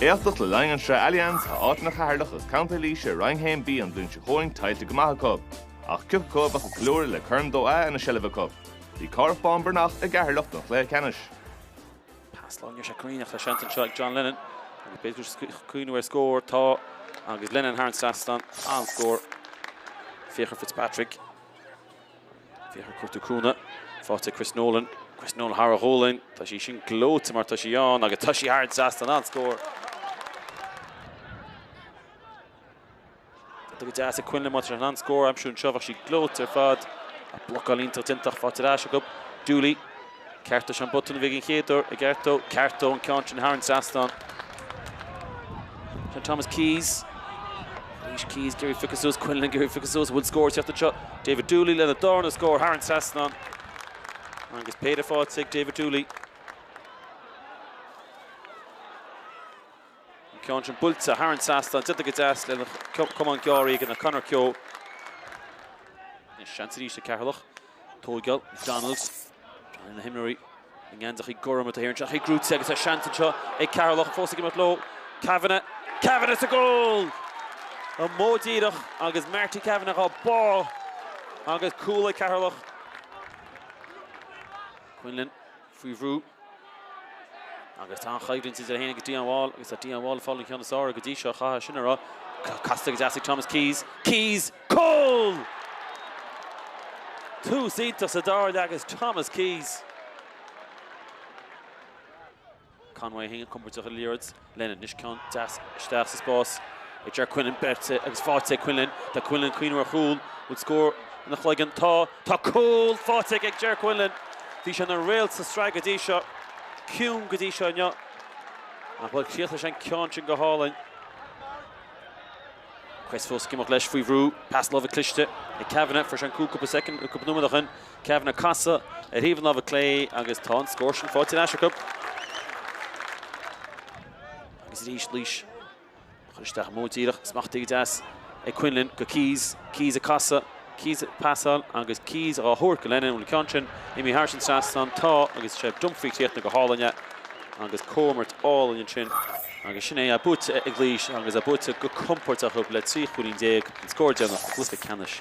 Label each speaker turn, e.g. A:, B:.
A: Éachtach le linn an Sraith Allianz tá áiteanna Cheatharlach agus Contae Laoise i Roinn 1B an bhliain seo chugainn tuillte go maith acu. Ach cé acu a bheadh ag ceiliúradh le Corn Dó A ina seilbh acu. Bhí Cárthach Bán Breathnach i gCeatharlach don chluiche ceannais.
B: Pas láimhe, níor sé coiníneach le seans anseo ag John Lennon agus b'fhéidir gur ag cuimhniú ar scór atá agus Lennon thar an trasnán, an-scór. Fiachra Fitzpatrick. Fiachra ag cuartú cúnamh, faighte ag Chris Nolan. Chris Nolan thar a ghualainn. Tá sí sin gleoite má tá sí ann agus tá sí thar an trasnán, an-scór. Tá go deas ag Quinlan má tá sé in ann scór a aimsiú anseo. Bheadh sí gleoite ar fad. Ach blocáil iontach iontach faighte ar ais acu. Dooley. Ceartú an botún a bhí aige an chéad uair, ag ceartú, ceartú an ceann sin thar an trasnán. John Thomas Keyes, Laois Keyes ag iarraidh é a phiocadh suas, Quinlan ag iarraidh é a phiocadh suas, an bhfuil scór ag teacht anseo, David Dooley lena darna scór thar an trasnán. Agus péire faighte ag David Dooley. An ceann sin buailte thar an trasnán, déanta go deas lena chamán Geary ag an Conor Kehoe. Seans arís ag Ceatharlach. Tóigeáil, McDonald, agus tá na himreoirí i ngeansachaí gorma de shíor ag teacht i gcrúite agus tá seans anseo ag Ceatharlach fós ag imeacht leo. Kavanagh, Kavanagh sa gcúl! An modh díreach agus Marty Kavanagh á bá agus cúl ag Ceatharlach. Quinlan faoi bhrú. Agus tá an choimhlint idir é féin agus Dion Wall agus tá Dion Wall ag fáil an ceann is fearr air go dtí seo. Chaithfeá sin a rá. Casta go deas ag Thomas Keyes. Keyes! Cúl! Tús iontach sa dara leath ag Thomas Keyes. Conway an-chompordach ar an liathróid. Lennon. Anois ceann deas isteach sa spás ag Jer Quinlan. Beirthe agus faighte ag Quinlan. Tá Quinlan ag cuimhniú ar chúl. Bhfuil scór ina chloigeann? Tá. Tá cúl faighte aige ag Jer Quinlan. Bhí sé ina réalt sa tsraith go dtí seo. Ciúin go dtí seo inniu. Ach bhuel, críochnaigh sé an ceann sin go hálainn. Kehoe fós ag imeacht leis faoi bhrú. Pas láimhe cliste ag Kavanagh. Fuair sé an cúl cúpla soicind, cúpla nóiméad ó shin. Kavanagh ag casadh ar thaobh an láimhe clé agus tá an scór sin faighte ar ais acu. Agus arís Laois á chur isteach, an modh díreach. Smachtaithe go deas ag Quinlan go Keyes. Keyes ag casadh. Keyes ag pasáil agus Keyes á thabhairt go Lennon. Bhfuil an ceann sin imithe thar an trasnán? Tá agus is é Dunphy a chríochnaigh go hálainn é agus comhimirt álainn ansin agus sin é buaite ag Laois agus é buaite go compordach acu le trí chúilín déag, an scór deireanach i gcluiche ceannais.